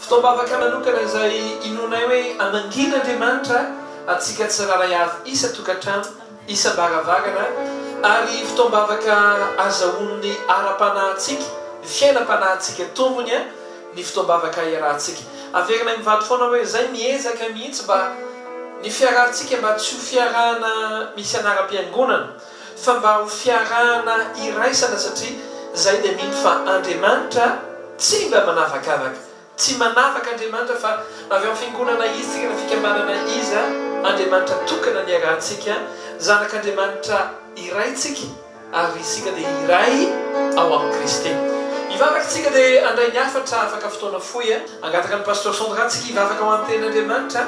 Fotoam-bavaka manokana izay inoanay hoe hamangian'Andriamanitra antsika tsirairay avy isan-tokantrano, isam-baravarana, ary fotoam-bavaka azahoan'ny ara-panahintsika, ny fiainam-panahintsika tombony, ny fotoam-bavaka iarahantsika. Averinay mivady foana hoe izay miezaka mihitsy mba ny fiarahantsika mba tsy ho fiarahana misy anaram-piangonana. fa mba ho fiarahana iraisana satria zay dia mino fa Andriamanitra tsy mba manavakavaka tsy manavaka Andriamanitra fa avy am fiangonana izy tsika na fikambanana iza Andriamanitra tokana niarahantsika zanak Andriamanitra iray tsika ary isika dia iray ao am Kristy mivavaka tsika dia andray ny hafatra afaka fotoana fohy a. Angataka ny Pasteur Sandra tsika hivavaka ho an tena Andriamanitra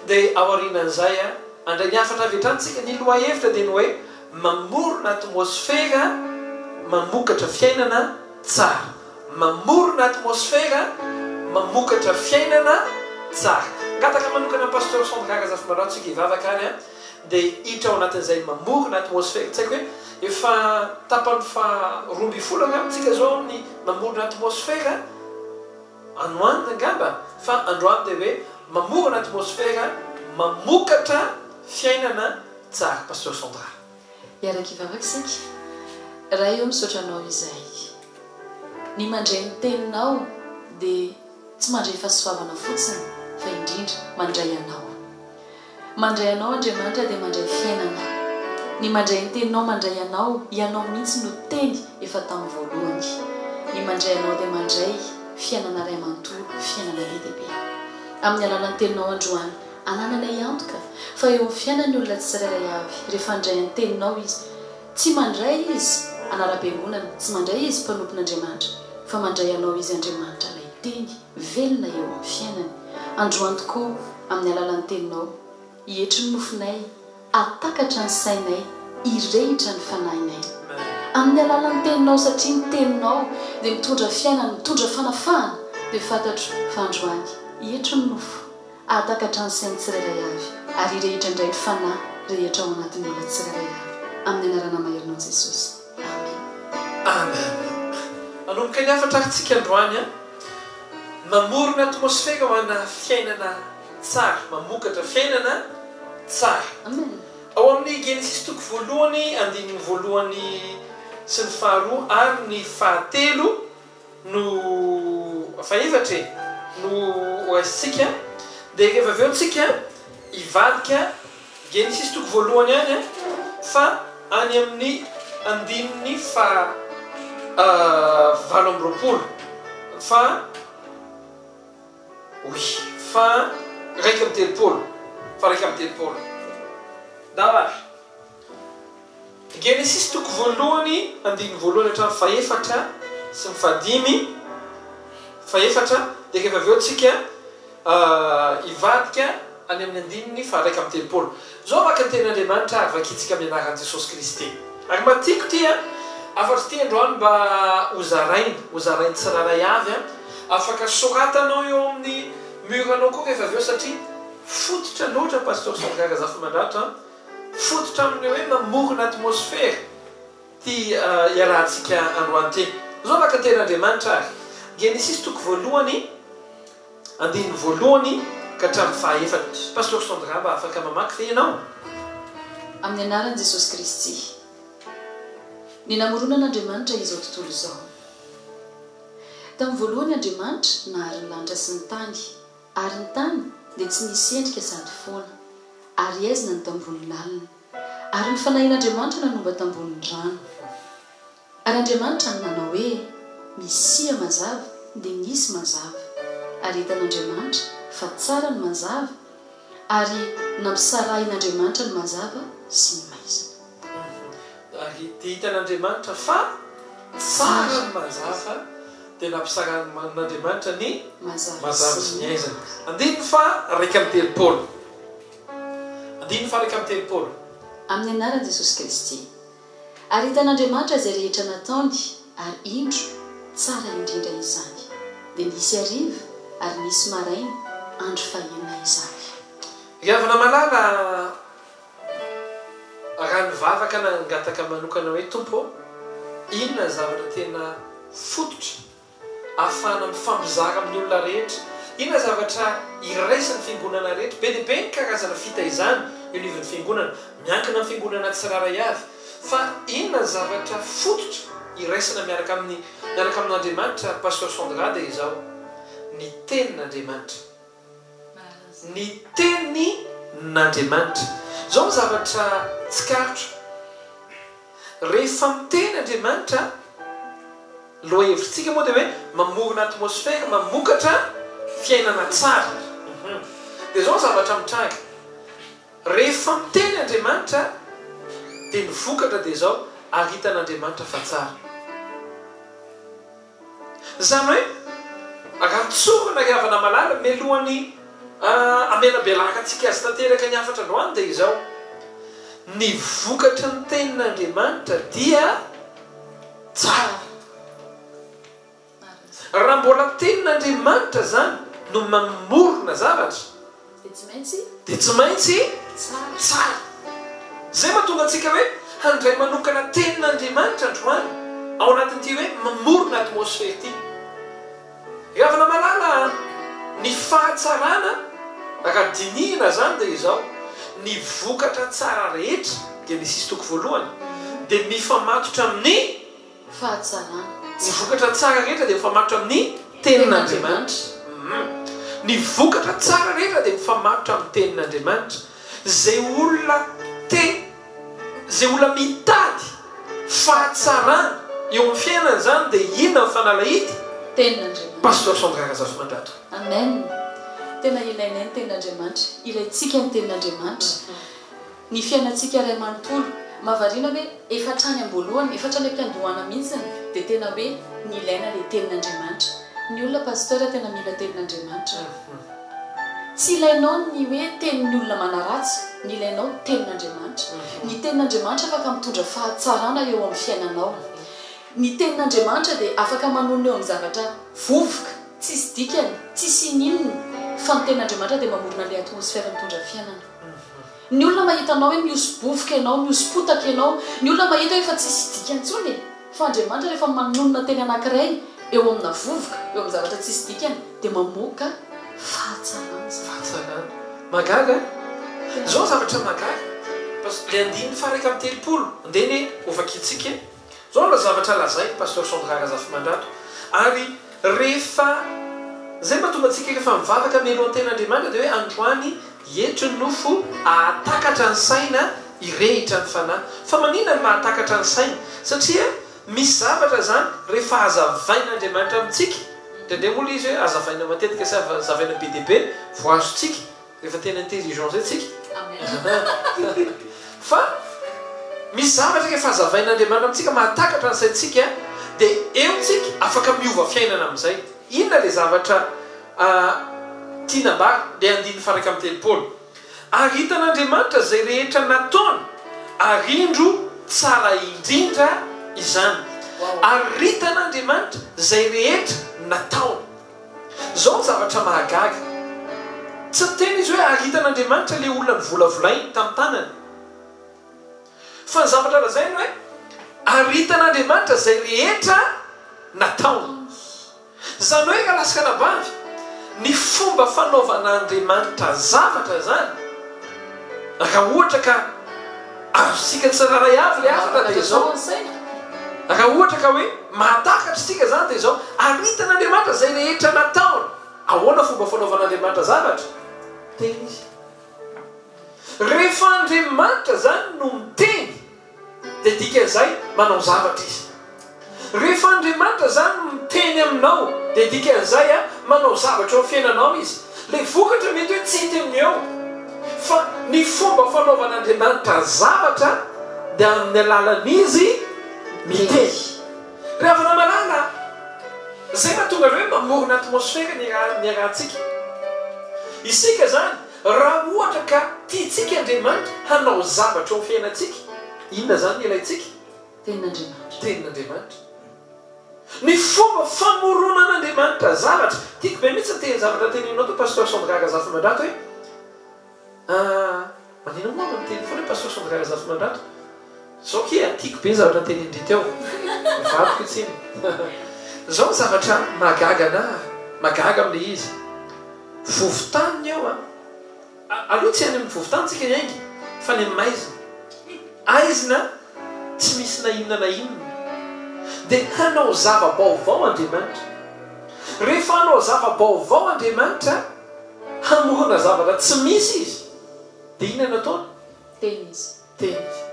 dia aorianan'izay a. Handray ny hafatra avy hatrany isika. Ny lohahevitra dia ny hoe mamorona atmosfera mamokatra fiainana tsara. Mamorona atmosfera mamokatra fiainana tsara. Hangataka manokana an'i Pasteur Sandra Razafimalao tsika hivavaka ary dia hiditra ao anatin'izay mamorona atmosfera. Tsy haiko hoe efa tapany faha roa ambin'ny folo angamba isika izao amin'ny mamorona atmosfera. Anoanina angamba fa androany dia hoe mamorona atmosfera mamokatra fiainana tsara Pasteur Sandra. Hiaraka hivavaka isika. Ray ô misaotra anao izay ny mandre ny teninao dia tsy mandre fahasoavana fotsiny fa indrindra mandray anao. Mandray anao Andriamanitra dia mandray fiainana. Ny mandray ny teninao mandray anao, ianao mihitsy no teny efa tamin'ny voalohany. Ny mandray anao dia mandray fiainana iray manontolo, fiainana be dia be. Amin'ny alalan'ny teninao androany, anananay antoka fa eo amin'ny fiainan'ny olona tsirairay avy rehefa handray ny teninao izy. Tsy mandray izy anara-piangonana, tsy mandray izy mpanompon'Andriamanitra, fa mandray anao izy Andriamanitra ilay teny. Velona eo amin'ny fiainany. Androany tokoa, amin'ny alalan'ny Teninao, hietry ny nofinay, hahatakatra ny sainay, hirehitra ny fanahinay. Amin'ny alalan'ny Teninao, satria ny Teninao dia mitondra fiainana, mitondra fanafahana, dia fantatro fa androany, hietry ny nofo, hahatakatra ny sain'ny tsirairay avy, ary hirehitra indray ny fanahy rehetra ao anatin'ny olona tsirairay avy. Amin'ny Anarana Maherinao Jesosy. Amen. Manomboka ny hafatra arintsika androany an. Mamorona atmosfera ho ana fiainana tsara, mamokatra fiainana tsara. Amen. Ao amin'ny Genesisy toko voalohany andininy voalohany sy ny faharoa ary ny fahatelo. no fahaefatra e! no OS-tsika dia rehefa avy eo tsika hivadika Genesisy toko voalohany any fa any amin'ny andininy faha valo amby roapolo fa oui fa raika amby telopolo fa raika amby telopolo. Ndao ary. Genesisy toko voalohany andininy voalohany hatramin'ny fahefatra sy ny fahadimy, fahefatra, dia rehefa avy eo tsika hivadika any amin'ny andininy faharaika amby telopolo. Zao vaka ny tenin'Andriamanitra ary vakintsika amin'ny anaran'i Jesosy Kristy. Ary mba tiako ity an, afatsy ity androany mba ho zaraina, ho zarain'ny tsirairay avy an, afaka soratanao eo amin'ny mur-nao koa rehefa avy eo satria fototra loatra Pasteur Salga Razafimandratra an. Fototra amin'ilay hoe mamorona atmosfera ity iarahantsika androany ity. Izao maka-teny Andriamanitra ary. Genesisy toko voalohany, andininy voalohany ka hatramin'ny fahaefatra. Pasteur Sandra mba afaka mamaky ve ianao? Amin'ny anaran'i Jesosy Kristy. Ny namoronan'Andriamanitra izao tontolo izao. Tamin'ny voalohany Andriamanitra nahary ny lanitra sy ny tany. Ary ny tany dia tsy nisy endrika sady foana, ary haizina ny tambohony lalina, ary ny fanahin'Andriamanitra nanomba tamboho ny rano. Ary Andriamanitra no nanao hoe, Misia mazava, dia nisy mazava. Ary hitan'Andriamanitra fa tsara ny mazava, ary nampisarahin'Andriamanitra ny mazava sy ny maizina. Dia hitan'Andriamanitra fa tsara ny mazava, dia nampisarahan'Andriamanitra ny mazava sy ny aizana. Andininy faha iraika amby telopolo. Andininy faha iraika amby telopolo. Amin'ny anaran'i Jesosy Kristy. Ary hitan'Andriamanitra izay rehetra nataony, ary indro, tsara indrindra izany. Dia nisy hariva, ary nisy maraina, andro fahenina izany. Ry havana malala, Raha nivavaka nangataka manokana hoe, Tompo ô, inona ny zavatra tena fototra ahafahana mifampizara amin'ny olona rehetra? Inona ny zavatra iraisan'ny fiangonana rehetra? Be dia be ny karazana fitaizana eo anivon'ny fiangonana, miankina amin'ny fiangonana tsirairay avy. Fa inona ny zavatra fototra iraisana miaraka amin'ny miaraka amin'Andriamanitra, Pasteur Sandra, dia izao, ny Tenin'Andriamanitra. ny tenin'Andriamanitra. Izao ny zavatra tsikaritro, rehefa miteny Andriamanitra, lohahevitsika moa dia hoe mamorona atmosfera mamokatra fiainana tsara. Dia izao ny zavatra mitranga, rehefa miteny Andriamanitra dia ny vokatra dia izao, haritan'Andriamanitra fa tsara. Izany hoe, raha tsorina ry havana malala, mialohan'ny hamelabelarantsika azy tanteraka ny hafatra androany dia izao, ny vokatry ny tenin'Andriamanitra dia tsara. Raha mbola ny tenin'Andriamanitra izany no mamorona zavatra, dia tsy maintsy tsara. Izay mahatonga antsika hoe handray manokana tenin'Andriamanitra androany ao anatin'ity hoe mamorona atmosfera ity. Ry havana malala a! Ny fahatsarana raha dinihina izany dia izao, ny vokatra tsara rehetra dia ny sisintoko voalohany dia mifamatotra amin'ny. fahatsanana. Ny vokatra tsara rehetra dia mifamatotra amin'ny Tenin'Andriamanitra. Ny vokatra tsara rehetra dia mifamatotra amin'ny Tenin'Andriamanitra. Izay olona te, izay olona mitady fahatsarana eo amin'ny fiainany izany dia inona ny fanalahidy? Tenin'Andriamanitra. Pasteur Sandra Razafimandratra. Amen! Tena ilainay ny Tenin'Andriamanitra. Ilaintsika ny Tenin'Andriamanitra. Ny fiainantsika iray manontolo. Mahavariana hoe efa hatrany am-boalohany, efa hatrany am-piandohana mihitsiny dia tena hoe nilaina ilay tenin'Andriamanitra. Ny olona Pasteur tena mila tenin'Andriamanitra. Tsy ilainao ny hoe tenin'ny olona manaratsy, ny ilainao tenin'Andriamanitra. Ny tenin'Andriamanitra afaka mitondra fahatsarana eo amin'ny fiainanao. Ny tenin'Andriamanitra dia afaka manonona eo amin'ny zavatra vovoka, tsisy dikany, tsisy ininona, fa ny tenin'Andriamanitra dia mamorona ilay atmosfera mitondra fiainana. Ny olona mahita anao hoe mihoso-bovoka ianao, mihoso-potaka ianao, ny olona mahita hoe efa tsisy dika intsony e! Fa Andriamanitra rehefa manonona teny anankiray eo amina vovoka, eo amin'ny zavatra tsisy dikany, dia mamoaka fahatsarana izany. Fahatsarana. Mahagaga an? Izao ny zavatra mahagaga, Pas, ilay andininy faha iraika amby telopolo, andeha anie hovakintsika e! Zao ilay zavatra lazain'i Pasteur Sandra Razafimandrato ary rehefa zay mahatonga antsika rehefa mivavaka hamelon tena Andriamanitra dia hoe androany eto ny nofo ahatakatra ny saina hirehitra ny fanahy fa manina ny mahatakatra ny saina satria misy zavatra zany rehefa hazavain'Andriamanitra amintsika ndraindray moa ilay izy hoe hazavaina matetika sy hazavaina be dia be vao azontsika Efa tena intelligent zay tsika. Fa misy zavatra efa hazavain'Andriamanitra amintsika mahatakatra ny saintsika dia eo tsika afaka miova fiainana amin'izay. Inona ilay zavatra tiany ambara? Ilay andininy faharaika amby telopolo, ary hitan'Andriamanitra izay rehetra nataony, ary indro tsara indrindra izany. Ary hitan'Andriamanitra izay rehetra nataony. Izao ny zavatra mahagaga, tsy niteny izy hoe ary hitan'Andriamanitra ilay olona novolavolainy tamin'ny tanany. Fa ny zavatra lazainy hoe ary hitan'Andriamanitra izay rehetra nataony. Izany hoe ralasik'anabavy, ny fomba fanaovan'Andriamanitra zavatra izany, Raha ohatra ka azontsika tsirairay avy ilay hafatra dia izao, raha ohatra ka hoe mahatakatra isika izany dia izao, Arintan'Andriamanitra izay rehetra nataony. Ahoana fomba fanaovan'Andriamanitra zavatra? Miteny Izy. Rehefa Andriamanitra izany no miteny, Dia dikan'izay, manao zavatra Izy. Rehefa Andriamanitra izany miteny aminao, dia dikan'izay, manao zavatra eo amin'ny fiainanao Izy. Ilay vokatra mety hoe tsy hita eo, fa ny fomba fanaovan'Andriamanitra zavatra dia amin'ny alalan'Izy miteny. Ry havana malala a! Izay no mahatonga an'ilay hoe mamorona atmosfera ny iarahantsika. Isika izany, Raha ohatra ka tiantsika Andriamanitra hanao zavatra eo amin'ny fiainantsika, inona izany no ilaintsika? Tenin'Andriamanitra. Tenin'Andriamanitra. Ny fomba famoronan'Andriamanitra zavatra. Tiako be mihitsy ny tehin-javatra teneninao tao Pasteur Sandra Razafimandrato hoe, ah, maninona moa aho miteny foana hoe Pasteur Sandra Razafimandrato? Zoky a! Tiako be zavatra tenin-dry teo. Vadiko itsy iny. Izao ny zavatra mahagaga anà, mahagaga amin'ilay izy. Vovontany ny eo a! Aleo tsy any amin'ny vovontany isika hiainga fa any amin'ny maizina. Haizina tsy misy na inona na inona. Dia hanao zava-baovao Andriamanitra. Rehefa hanao zava-baovao Andriamanitra, hamorona zavatra tsy misy Izy, dia inona no ataony? Tena izy. Miteny izy.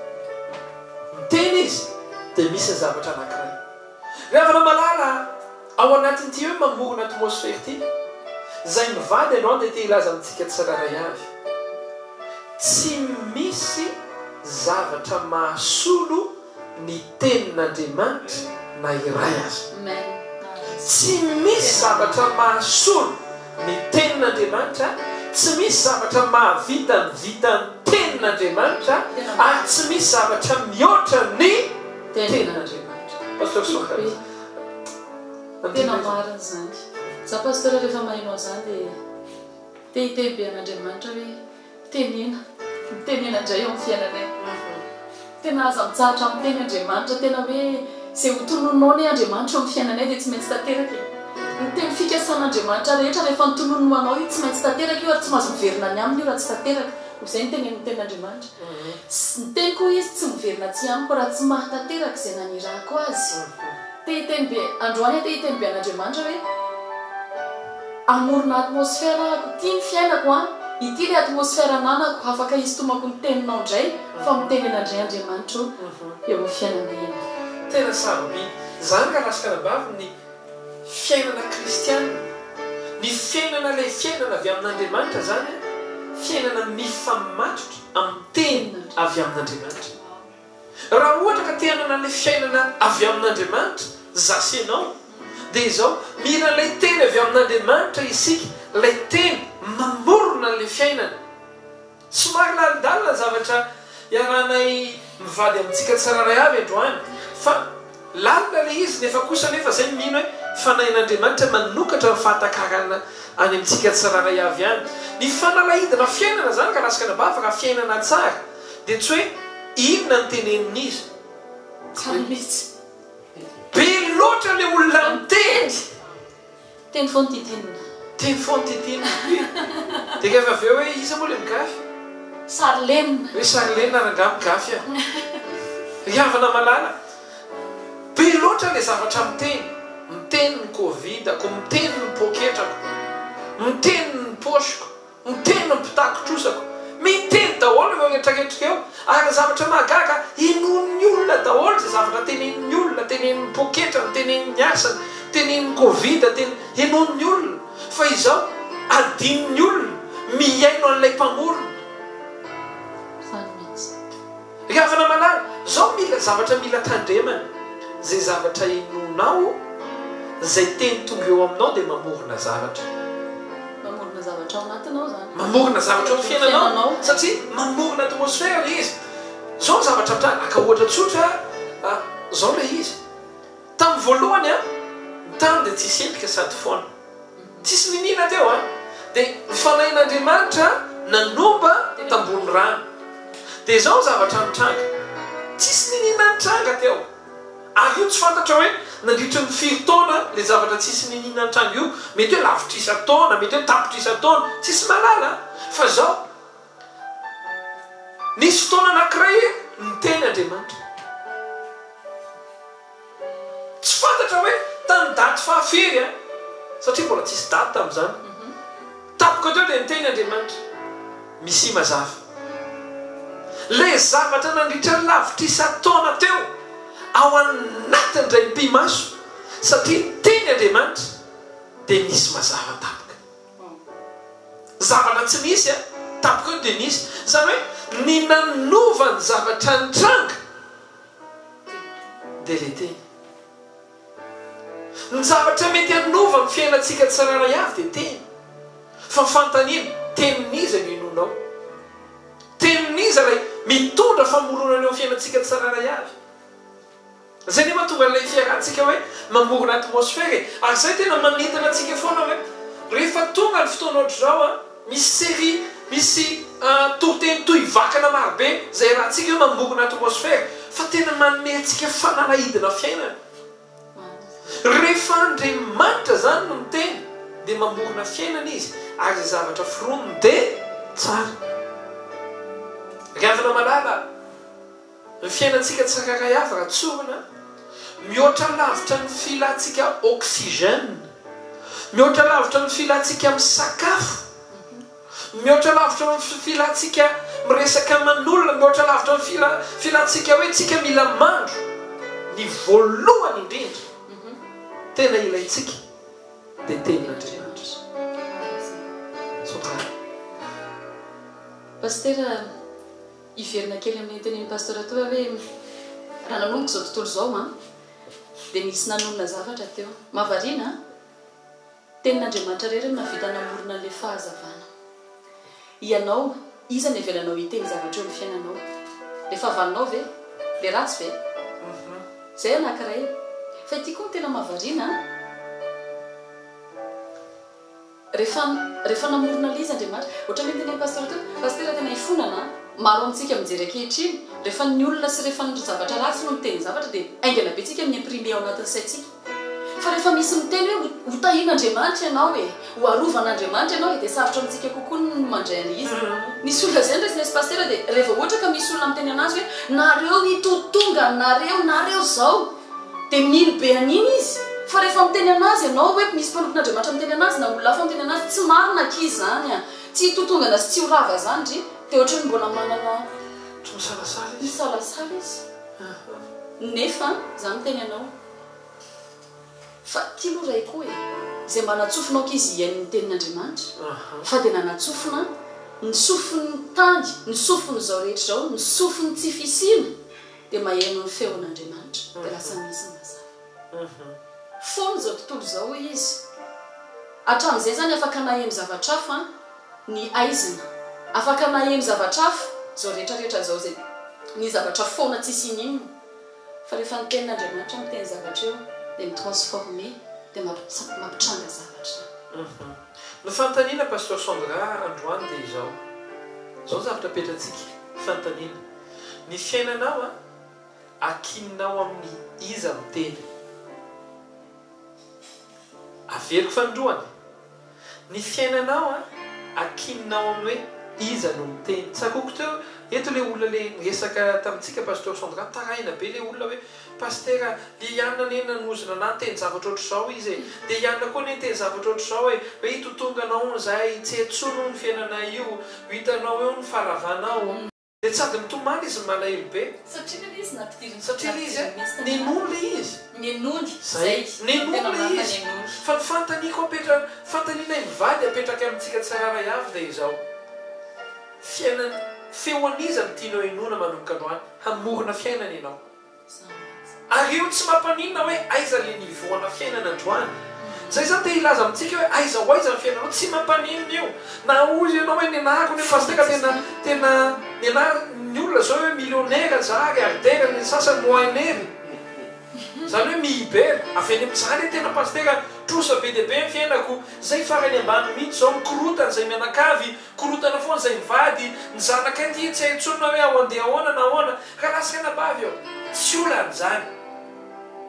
Miteny izy dia misy ny zavatra anankiray. Ry havana malala a! Ao anatin'ity hoe mamorona atmosfera ity, izay mivady androany dia te hilaza amintsika tsirairay avy, tsy misy zavatra mahasolo ny tenin'Andriamanitra na iray aza. Tsy misy zavatra mahasolo ny tenin'Andriamanitra, tsy misy zavatra mahavita ny vitan'ny tenin'Andriamanitra ary tsy misy zavatra mihoatra ny tenin'Andriamanitra. Pasteur Soaha iza? Andinika izany. Tena marina izany. Za Pasteur rehefa maheno an'izany dia te hiteny be an'Andriamanitra hoe. Tenena, mitenena indray eo amin'ny fiainanay. Tena aza mitsahatra miteny Andriamanitra, tena hoe izay ho tononinao anie Andriamanitra eo amin'ny fiainanay dia tsy maintsy tanteraka e! Ny teny fikasan'Andriamanitra rehetra rehefa notononiny ho anao io tsy maintsy tanteraka io ary tsy mahazo miverina any aminy io raha tsy tanteraka, hoy izay ny tenenin'ny tenin'Andriamanitra. Sy ny teniko hoy izy tsy miverina atsy amiko raha tsy mahatanteraka izay nanirahako azy. Te hiteny be androany aho te hiteny be an'Andriamanitra hoe amorona atmosphere ahako ity ny fiainako an! ity le atmosphere ananako hafaka hisitomako ny teninao ndray fa mitenena ndray Andriamanitra o eo amin'ny fiainanay ianao. Tena sarobidy zany ka raska anabavy ny fiainana kristiana, ny fiainana ilay fiainana avy amin'Andriamanitra zany an, fiainana mifamatotra amin'ny teny avy amin'Andriamanitra. Raha ohatra ka te hanana ilay fiainana avy amin'Andriamanitra za sy ianao dia izao, mila ilay teny avy amin'Andriamanitra isika, ilay teny mamorona an'ilay fiainana. Somary lalindalina ny zavatra iarahanay mivady amintsika tsirairay avy androany fa. Lalina ilay izy, nefa kosa anefa izay no mino hoe fanahin'Andriamanitra manokatra ny fahatakarana any amintsika tsirairay avy ihany. Ny fanalahidina fiainana izany ka raha sakana bava raha fiainana tsara dia tsy hoe inona ny tenenin'izy. Tsara mihitsy. Be loatra ilay olona miteny. Teny foana ity Tinina. Teny foana ity Tinina dia. Dia kaifa avy eo hoe iza moa ilay migafy? Sarilena. Ry Sarilena rangaha migafy a! Ry havana malala! Be loatra ilay zavatra miteny, miteny ny covid-ko, miteny ny poketrako, miteny ny poche-ko, Miteny ny mpitakin-trosako. Miteny daholo ireo retraretra ireo. Ary ny zavatra mahagaga, inoan'ny olona daholo izay zavatra tenenin'ny olona, tenenin'ny poketrany, tenenin'ny asany, tenenin'ny covid, tene, inoan'ny olona. Fa izao, adinon'ny olona, mihaino an'ilay Mpamorona. Izany mihitsy. Ry havana malala, zao mila zavatra mila tandremana, zay zavatra inoanao, zay teny tonga eo aminao dia mamorona zavatra. Mamorona zavatra ao anatinao zany. Mamorona zavatra ao fiainanao satria mamorona atmosfera ilay izy. Zao ny zavatra mitranga, aka ohatra tsotra a, zao ilay izy, tamin'ny voalohany a, ny tany dia tsisy endrika sady foana. Tsisy niniana teo an! Dia ny Fanahin'Andriamanitra nanomba ny tambohon'ny rano. Dia izao ny zavatra nitranga. Tsisy niniana nitranga teo. Ary io tsy fantatra hoe nandritry ny firy taona ilay zavatra tsisy niniana nitranga io. Mety hoe lavitrisa taona, mety hoe tapitrisa taona. Tsisy mahalala an! Fa izao, nisy fotoana anankiray niteny Andriamanitra. Tsy fantatra hoe tamin'ny daty faha firy an! satria mbola tsisy daty tamin'izany. Tampoka teo dia niteny Andriamanitra. Misia mazava. Ilay zavatra nandritra lavitra isan-taona teo ao anatin'ny draim-pimaso satria niteny Andriamanitra dia nisy mazava tampoka. Zavatra tsy nisy an! tampoka eo dia nisy. Izany hoe ny nanova ny zavatra nitranga. dia ilay teny. Ny zavatra mety hanova ny fiainantsika tsirairay avy dia teny. Fa fanontaniana, tenin'iza no hinoanao? Tenin'iza ilay mitondra famoronana eo amin'ny fiainantsika tsirairay avy? Izay nefa tonga an'ilay fiarahantsika hoe mamorona atmosfera e. Ary izay tena manintona antsika foana hoe rehefa tonga ny fotoana ohatr'izao an, Misy série misy toriteny toy vakana marobe izay arahantsika eo mamorona atmosfera fa tena manome antsika fanalahidina fiainana. Rehefa Andriamanitra izany no miteny dia mamorona fiainana Izy ary izay zavatra foroniny dia tsara. Ry havana malala a! Ny fiainantsika tsirairay avy raha tsorina, mihoatra lavitra ny filantsika oxygène, mihoatra lavitra ny filantsika misakafo, mihoatra lavitra ny filantsika miresaka aman'olona, mihoatra lavitra ny filantsika hoe tsika mila mandro, ny voalohany indrindra tena ilaintsika dia tenin'Andriamanitra. Soamanana. Pasitera. Hiverina kely amin'iny tenin'i Pasteur teo aho hoe raha nanomboka izao tontolo izao an, dia nisy nanonona zavatra teo. Mahavariana an! Tenin'Andriamanitra irery no nahavita namorona an'ilay fahazavana. Ianao, iza no hevelanao hiteny zavatra eo amin'ny fiainanao? Ilay fahavalonao ve? Ilay ratsy ve? Izay anankiray. Fa ity koa no tena mahavariana an! Rehefa rehefa namorona lay izy Andriamanitra. Ohatran'ny hoe tenin'ny Pasteur teo, Pasitera tena ifonana an! Maro amintsika mijery ankehitriny, rehefa ny olona sy rehefa ny zavatra ratsy no miteny zavatra dia haingana be tsika mi-imprimer ao anatin'ny saintsika. Fa rehefa misy miteny hoe ho ho tahian'Andriamanitra ianao e, ho arovan'Andriamanitra ianao e dia sarotra amintsika kokoa ny mandray an'ilay izy. Nisy olona izay niraisina izy Pasitera dia rehefa ohatra ka misy olona miteny an'azy hoe nareo itotonga nareo nareo izao Dia mino be an'iny izy. Fa rehefa miteny an'azy ianao hoe misy mpanompon'Andriamanitra miteny an'azy na olona hafa miteny an'azy, tsy marina akia izany an! Tsy hitotongana sy tsy ho rava izany ry! Dia ohatran'ny mbola manana. Ohatry ny salasala izy. Misalasala izy. Nefa izaho miteny anao fa ity aloha Ray koa e! izay mba natsofina aoka izy hihaino ny tenin'Andriamanitra fa dia nanatsofina ny sofin'ny tany, ny sofin'izao rehetra izao, ny sofin'ny tsy fisiana. dia maheno ny feon' Andriamanitra dia lasa misy ny mazava foana izao tontolo izao hoy izy. Hatramin' izay izany afaka naheno zavatra hafa ny haizina, afaka naheno zavatra hafa izao rehetra rehetra izao izay ny zavatra foana tsisy ininona fa rehefa ny tenin' Andriamanitra miteny zavatra eo dia mi transformer dia mampitranga zavatra. Ny fanontaniana Pasteur Sandra androany dia izao, izao ny zavatra apetratsika, fanontaniana, Ny fiainanao an, akininao amin'ny iza miteny? Averiko fanindroany, Ny fiainanao an, akininao amin'ny hoe iza no miteny? Tsakoiko teo eto ilay olona ilay niresaka tamintsika Pasteur Sandra, nitaraina be ilay olona hoe, Pasitera a, i Ian anie nanozona anah niteny zavatra ohatr'izao izy e, dia Ian koa anie niteny zavatra ohatr'izao e, hoe hitotonganao hono izahay, tsy hetsona hono ny fiainanay io, ho hitanao eo ny faharavanao. Dia sady mitomany izy no malahelo be. Satria ve ilay izy nampidiriny Satria ilay izy a, nenony ilay izy. Nenony, zay, no tena marina, nenony. Fa ny fanontaniako apetra, fanontaniana ny mivady apetraka amintsika tsirairay avy dia izao, fiainana, feo an'iza no tianao henoina manomboka androany, hamorona fiainana ianao? Ary io tsy mampaninona hoe aiza le niveau ana fiainana androany. Zay zany te hilaza amintsika hoe aiza ho aiza ny fiainanao tsy mampaninona io. Na hoy ianao hoe nianarako anie Pasitera tena tena nianara ny olona zao hoe millionnaire za milliardaire ny sasany moinere. Zany hoe mihiber. Avy any amin za le tena Pasitera trosa be dia be ny fiainako. Zay farany ambany mihitsy zao mikorotana zay mianakavy. Korontana foana izay mivady ny zanakay dia tsy hay intsony na hoe ao andeha ahoana na ahoana ka lasa eny am-bavy eo. Tsy olana izany.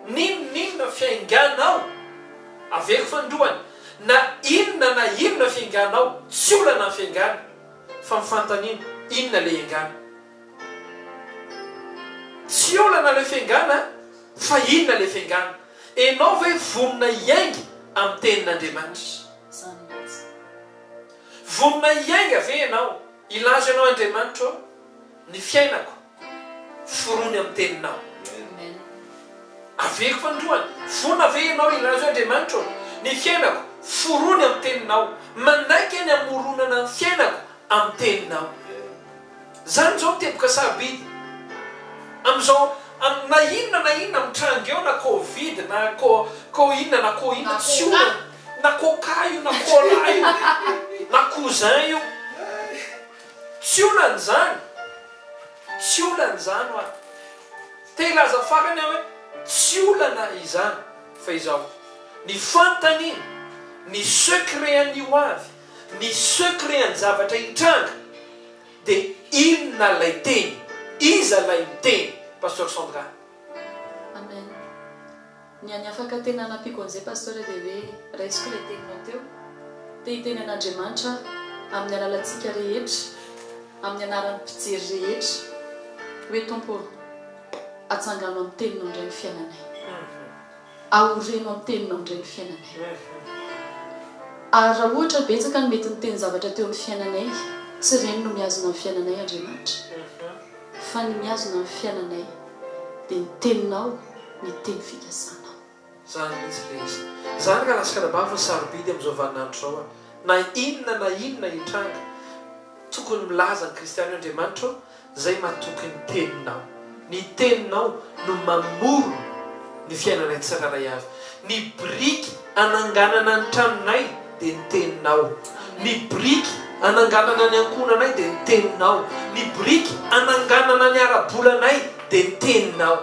N'inon'inona fiainganao, aveko fanindroany, na inona na inona fiainganao, tsy olana ny fiaingana fa ny fanontaniana, inona ilay hiaingana? Tsy olana ilay fiaingana fa inona ilay fiaingana? Enao ve vonona hiainga amin'ny tenin'Andriamanitra? Vonona hiainga ve ianao? Hilaza ianao, Andriamanitra ô, ny fiainako forony amin'ny Teninao. Averiko androany, vonona ve ianao hilaza hoe, Andriamanitra ô, ny fiainako forony amin'ny Teninao. Manaiky ny hamoronana ny fiainako amin'ny Teninao. Izany izao no teboka sarobidy amin'izao am na inona na inona mitranga eo na covid na co co inona na co inona tsy olana na coca io na cola io na cousin io tsy olana izany tsy olana izany hoa te hilaza farany aho hoe tsy olana izany fa izao ny fantany ny secret an'io avy Ny secret ny zavatra hitranga dia inona ilay teny? Iza ilay miteny? Pasteur Sandra. Amen ny any afaka tena nampiako an'izay Pasteur dia hoe raisiko ilay teninao teo te hiteny an'Andriamanitra aho amin'ny alalantsika rehetra amin'ny anaran'ny mpijery rehetra hoe Tompo ô atsangano amin'ny teninao indray ny fiainanay. Aoreno amin'ny teninao indray ny fiainanay. Ary raha ohatra betsaka no mety niteny zavatra teo amin'ny fiainanay, tsy ireny no mihazona ny fiainanay Andriamanitra, fa ny mihazona ny fiainanay dia ny teninao, ny teny fikasanao. Izany mihitsy ilay izy. Izany ka latsaka ara-bava fa sarobidy amin'izao vaninandro izao an. Na inona na inona hitranga, tokony milaza ny kristiana hoe, Andriamanitra ô, Zay matoky ny teninao. Ny teninao no mamorona ny fiainanay tsirairay avy. Ny biriky ananganana ny tranonay dia ny teninao. Ny biriky ananganana ny ankohonanay dia ny teninao. Ny biriky ananganana ny ara-bolanay dia ny teninao.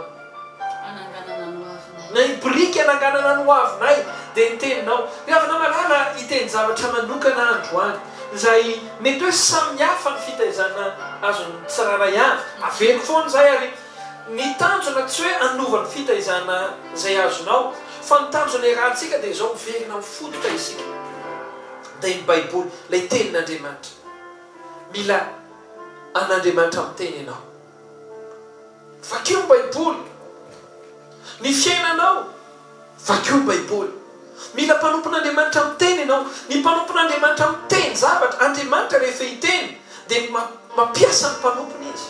hananganana ny hoavinay. Na ny biriky hananganana ny hoavinay, dia ny Teninao. Ry havana malala, hiteny zavatra manokana aho androany, izay mety hoe samihafa ny fitaizana azon'ny tsirairay avy. Averiko foana izay, ary ny tanjona tsy hoe hanova ny fitaizana izay azonao, fa ny tanjona iarahantsika dia izao, miverina amin'ny fototra isika. Dia ny Baiboly, ilay Tenin'Andriamanitra. Mila an'Andriamanitra miteny ianao. Vakio ny Baiboly. Ny fiainanao, vakio ny Baiboly. Mila mpanompon'Andriamanitra miteny ianao. Ny mpanompon'Andriamanitra miteny zavatra, Andriamanitra rehefa hiteny dia mampiasa ny mpanompony Izy.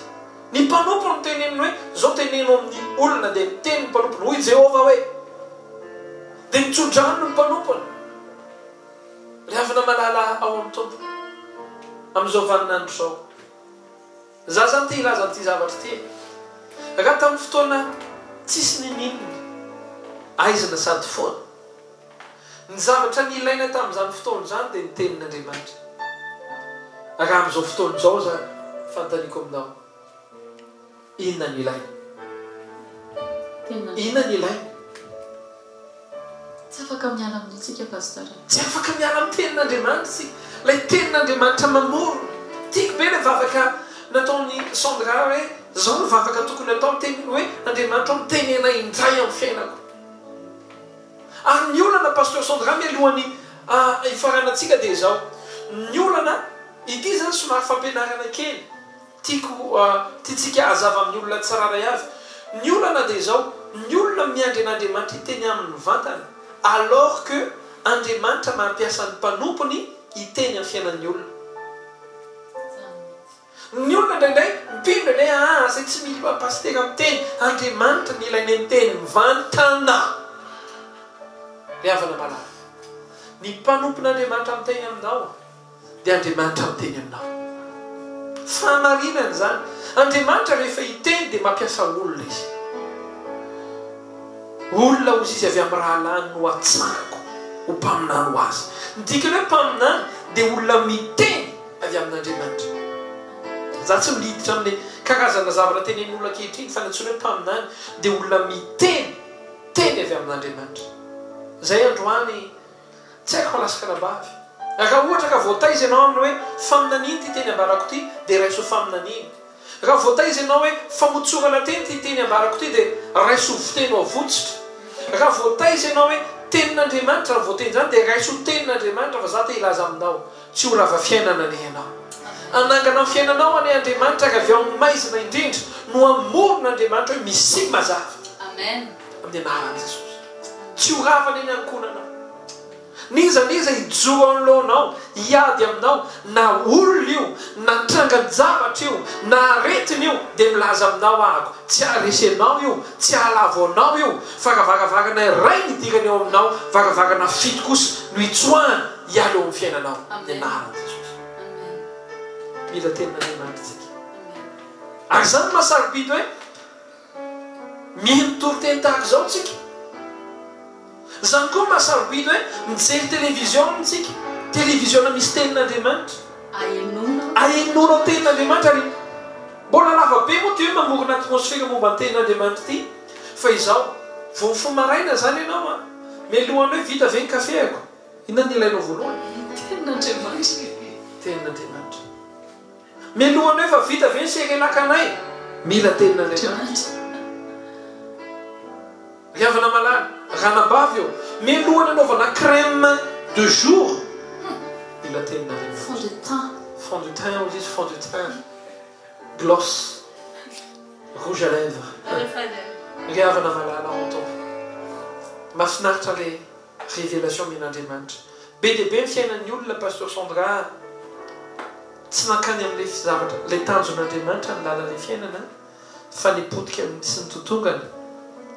Ny mpanompo no teneniny hoe, izao teneno amin'ny olona, dia miteny ny mpanompony, hoy Jehovah hoe. Dia mitso-drano ny mpanompony. Ry havana malala ao amin'ny Tompo, amin'izao vaninandro izao. Za zany te hilaza an'ity zavatra ity e. Raha tamin'ny fotoana tsisy ninininina, aizina sady foana. Ny zavatra nilaina tamin'izany fotoana izany dia ny tenin'Andriamanitra. Raha amin'izao fotoana izao izany, fanontaniako aminao, inona no ilaina? Inona no ilaina? Tsy afaka miala amin'ny tsika Pasteur. Tsy afaka miala amin'ny tenin'Andriamanitra isika. Ilay tenin'Andriamanitra mamorona. Tiako be ilay vavaka nataon'i Sandra hoe izao no vavaka tokony atao ny teninao hoe Andriamanitra ô miteny anay indray amin'ny fiainako. Ary ny olana Pasteur Sandra mialohan'ny hifaranantsika dia izao. Ny olana, ity izany somary fampianarana kely. Tiako tiantsika hazava amin'ny olona tsirairay avy ny olana dia izao, ny olona miandry an'Andriamanitra hiteny aminy mivantana alors que Andriamanitra mampiasa ny mpanompony hiteny amin'ny fiainan'ny olona. Ny olona indraindray mpino indraindray aa izay tsy mila pasitera miteny, Andriamanitra no ilainay miteny mivantana. Ry havana malala, ny mpanompon'Andriamanitra miteny aminao. dia Andriamanitra miteny aminao. Fahamarinana izany. Andriamanitra rehefa hiteny dia mampiasa olona Izy. Olona hozy Izy avy amin'ny rahalahiny no hatsahako ho mpaminany ho Azy. Ny dikany hoe mpaminany dia olona miteny avy amin'Andriamanitra. Izaho tsy miditra amin'ny karazana zavatra tenenin'olona ankehitriny fa ny antsoina hoe mpaminany dia olona miteny teny avy amin'Andriamanitra. Izay androany. Tsy haiko fa lasa kanabavy. Raha ohatra ka voataiza ianao amin'ny hoe faminaniana ity teny ambarako ity dia raiso ho faminaniana. Raha voataiza ianao hoe famotsorana teny ity teny ambarako ity dia raiso ho fiteny voatsitra. Raha voataiza ianao hoe tenin'Andriamanitra izany voateny izany dia raiso ho tenin'Andriamanitra fa za te hilaza aminao tsy ho rava fiainana anie ianao. Hanangana ny fiainanao anie Andriamanitra ary avy ao amin'ny maizina indrindra no hamorona Andriamanitra hoe misim mazava. Amen. Amin'ny anaran'i Jesosy. Tsy ho ravana eny ankohonanao. N'iza n'iza hijoro anoloanao, hiady aminao, na olona io, na trangan-javatra io, na aretina io, dia milaza aminao ahako, tsy haharesy anao io, tsy hahalavo anao io, fa raha varavarana iray no idirany eo aminao, varavarana fito kosa no itsoahany hiala eo amin'ny fiainanao. Amin'ny anaran'i Jesosy. Mila tenin'Andriamanitra isika. Ary izany no maha-sarobidy hoe. Mino toriteny tahaka izao tsika. Izany koa mba sarobidy hoe mijery televiziona tsika, televiziona misy tenin'Andriamanitra. Ahenoanao tenin'Andriamanitra ary mbola lava be moa Dieu mamorona atmosfera momba ny tenin'Andriamanitra ity fa izao vao mifoha maraina izany ianao an, mialohan'ny hoe vita ve ny kafeako, inona no ilainao voalohany? Tenin'Andriamanitra. Mialoha an'io efa vita ve ny serelakanay? Mila tenin' Andriamanitra. Ry havana malala, ranabavy ô, mialoha ny anaovana crème de jour, mila tenin' Andriamanitra. Fond de teint. Fond de teint hozy izy, fond de teint, gloss, rouge à lèvres. Ry havana malala ao an-Tompo. Mahafinaritra le. Révélation men'Andriamanitra. Be dia be ny fiainan'ny olona Pasteur Sandra a. Tsy mankany amin'ilay zavatra, ilay tanjon'Andriamanitra ny lalan'ilay fiainana fa ny potika amin'ny tsy nitotongana,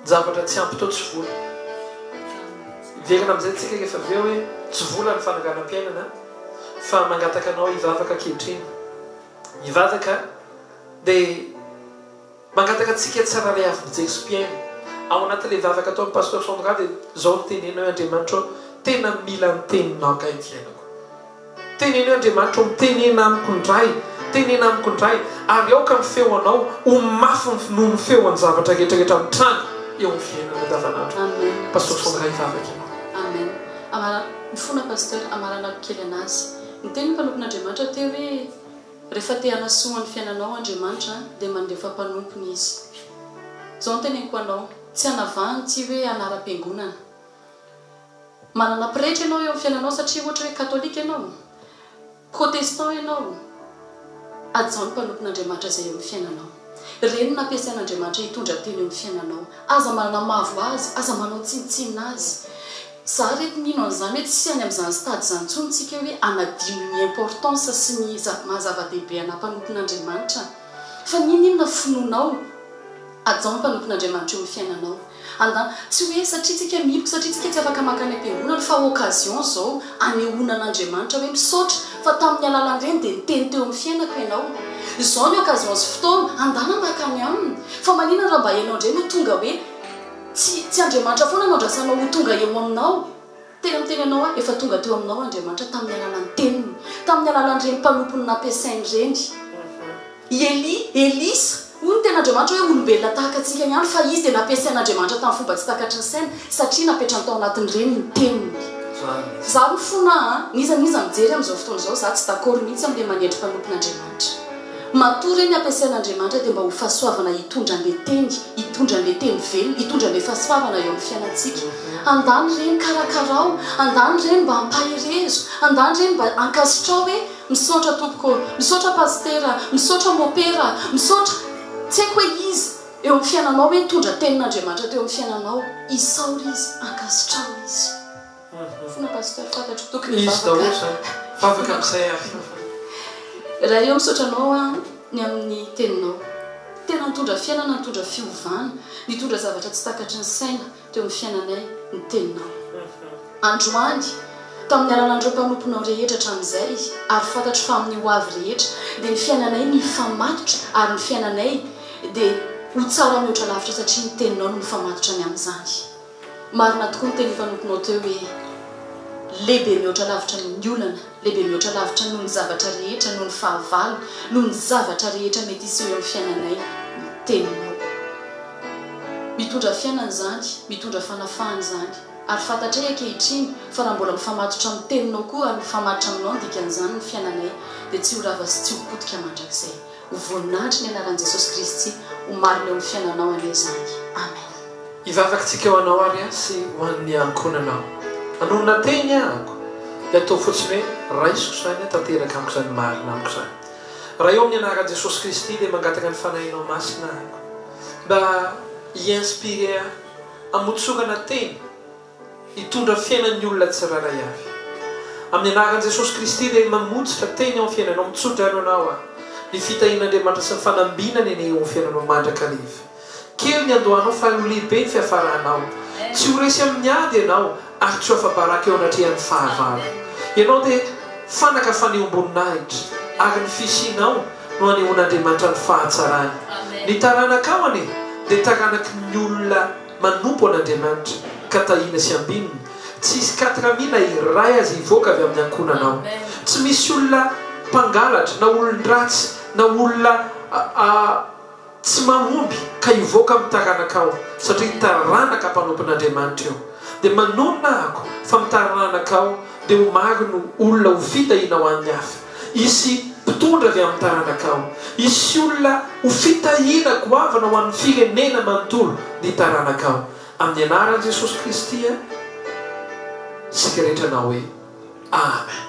ny zavatra tsy ampy tao tsy vola. Hiverina amin'izay tsika rehefa avy eo hoe tsy vola ny fananganam-piainana fa mangataka anao hivavaka ankehitriny. Mivavaka dia. Mangataka antsika tsirairay avy mijery sy mpihaino ao anatin'ilay vavaka ataon'i Pasteur Sandra dia izao no teneno hoe Andriamanitra ô, tena mila ny teninao angaha ny fiainako? Teneno hoe Andriamanitra ô, mitenena amiko indray, tenena amiko indray, ary aoka ny feonao ho mafy noho ny feon'ny zavatra rehetra rehetra mitranga eo amin'ny fiainana andavanandro. Amen Pasteur Sandra hivavaka ianao. Amen Amara ny fona Pasteur, amaranako kely anazy. Niteny ny mpanompon'Andriamanitra teo hoe. Rehefa te hanasoa ny fiainanao Andriamanitra dia mandefa mpanompony Izy. Izao no teneniko anao, tsy anavaha ny tsy hoe anaram-piangonana. Manana pretra ianao eo amin'ny fiainanao satria ohatra hoe katolika ianao, protestant ianao, hajao ny mpanompon'Andriamanitra izay eo amin'ny fiainanao. Ireny no nampiasain'Andriamanitra hitondra tena eo amin'ny fiainanao. Aza manamavo Azy, aza manao tsinontsinona Azy. Za re eto mino an'izany hoe tsy any amin'izany stade izany intsony tsika hoe hanadino ny importance sy ny maha zava-dehibe anà mpanompon'Andriamanitra. Fa ninoninona finoanao? Hajao ny mpanompon'Andriamanitra eo amin'ny fiainanao. Anda, tsy hoe satria tsika miloko, satria tsika tsy afaka mankany am-piangonana, fa occasion izao hanehoana an'Andriamanitra hoe misaotra fa tamin'ny alalan'ireny dia niteny teo amin'ny fiainako ianao. Izao ny occasion sy fotoana, andana mankany aminy. Fa maninona raha mba ianao indray no tonga hoe. Tsy, tsy Andriamanitra foana no andrasanao ho tonga eo aminao. Tena miteny anao aho, efa tonga teo aminao Andriamanitra tamin'ny alalan'ny Teniny, tamin'ny alalan'ireny mpanompony nampiasainy ireny. I Elia, Elisa, hoy ny Tenin'Andriamanitra hoe olombelona tahaka antsika ihany, fa izy dia nampiasain'Andriamanitra tamin'ny fomba tsy takatry ny saina, satria napetrany tao anatin'ireny ny Teniny. Izaho no fona an, n'iza n'iza mijery amin'izao fotoana izao, izaho tsy d'accord mihitsy amin'ilay manetry mpanompon'Andriamanitra. Matoa ireny ampiasain'Andriamanitra dia mba ho fahasoavana hitondra an'le teny, hitondra an'le teny velona, hitondra an'le fahasoavana eo amin'ny fiainantsika. Andany ireny karakarao, andany ireny mba ampaherezo, andany ireny mba ankasitrao hoe misaotra tompoko ô, misaotra pasitera, misaotra mopera, misaotra tsy haiko hoe iza eo amin'ny fiainanao hoe nitondra tenin'Andriamanitra teo amin'ny fiainanao, isaory izy, ankasitraho izy. Fona pasteur fantatro tokony hivavaka. Izy daholo zany. Vavaka amizay ary fafana. Ray o misaotra anao an ny amin'ny teninao. Tena nitondra fiainana nitondra fiovana nitondra zavatra tsy takatry ny saina teo amin'ny fiainanay ny teninao. Androany tamin'ny alalan'ireo mpanomponao rehetra hatramin'izay ary fantatro fa amin'ny ho avy rehetra dia ny fiainanay no hifamatotra ary ny fiainanay dia ho tsara mihoatra lavitra satria ny teninao no mifamatotra ny amin'izany. Marina tokoa ny teny efa notonao teo hoe lehibe mihoatra lavitra noho ny olana, lehibe mihoatra lavitra noho ny zavatra rehetra, noho ny fahavalo, noho ny zavatra rehetra mety hiseho eo amin'ny fiainanay ny Teninao. Mitondra fiainana izany, mitondra fanafahana izany. Ary fantatray ankehitriny fa raha mbola mifamatotra amin'ny Teninao koa ary mifamaritra Aminao ny dikan'izany ny fiainanay, dia tsy ho rava sy tsy ho potika mandrakizay. Ho voninahitry ny anaran'i Jesosy Kristy ho marina eo amin'ny fiainanao anie izany. Amen. Hivavaka tsika ho anao ary aho sy ho an'ny ankohonanao. Anonona teny ahako, dia ataovy fotsiny hoe, Raisiko izany, tanteraka amiko izany, marina amiko izany. Raha eo amin'ny anaran'i Jesosy Kristy, dia mangataka ny Fanahinao Masina ahako mba hi-inspirer ahy hamotsorana teny. Hitondra fiainan'ny olona tsirairay avy. Amin'ny anaran'i Jesosy Kristy dia mamotsitra teny ao amin'ny fiainanao, mitsodrano anao aho. Ny fitahian'Andriamanitra sy ny fanambinany anie eo amin'ny fiainanao mandrakariva. Kely ny andohanao fa ho lehibe ny fiafaranao. Tsy ho resy amin'ny ady ianao ary tsy ho afa-baraka eo anatrehan'ny fahavalo. Ianao dia fanaka fanehoam-boninahitra ary ny fisianao no anehoan'Andriamanitra ny fahatsarany. Ny taranakao anie dia taranaky ny olona. manompo an'Andriamanitra ka tahiana sy ambinina, tsy hisy quatre mille iray aza hivoaka avy amin'ny ankohonana ao, tsy misy olona mpangalatra na olon-dratsy na olona tsy mahomby ka hivoaka amin'ny taranakao satria taranaka mpanompon'Andriamanitra io, dia manonona ako fa amin'ny taranakao dia ho maro no olona ho fitahina ho an'ny hafa. Hisy mpitondra avy amin'ny taranakao. Hisy olona ho fitahina goavana ho an'ny firenena manontolo ny taranakao. Amin'ny anaran'i Jesosy Kristy isika rehetra na hoe Amen.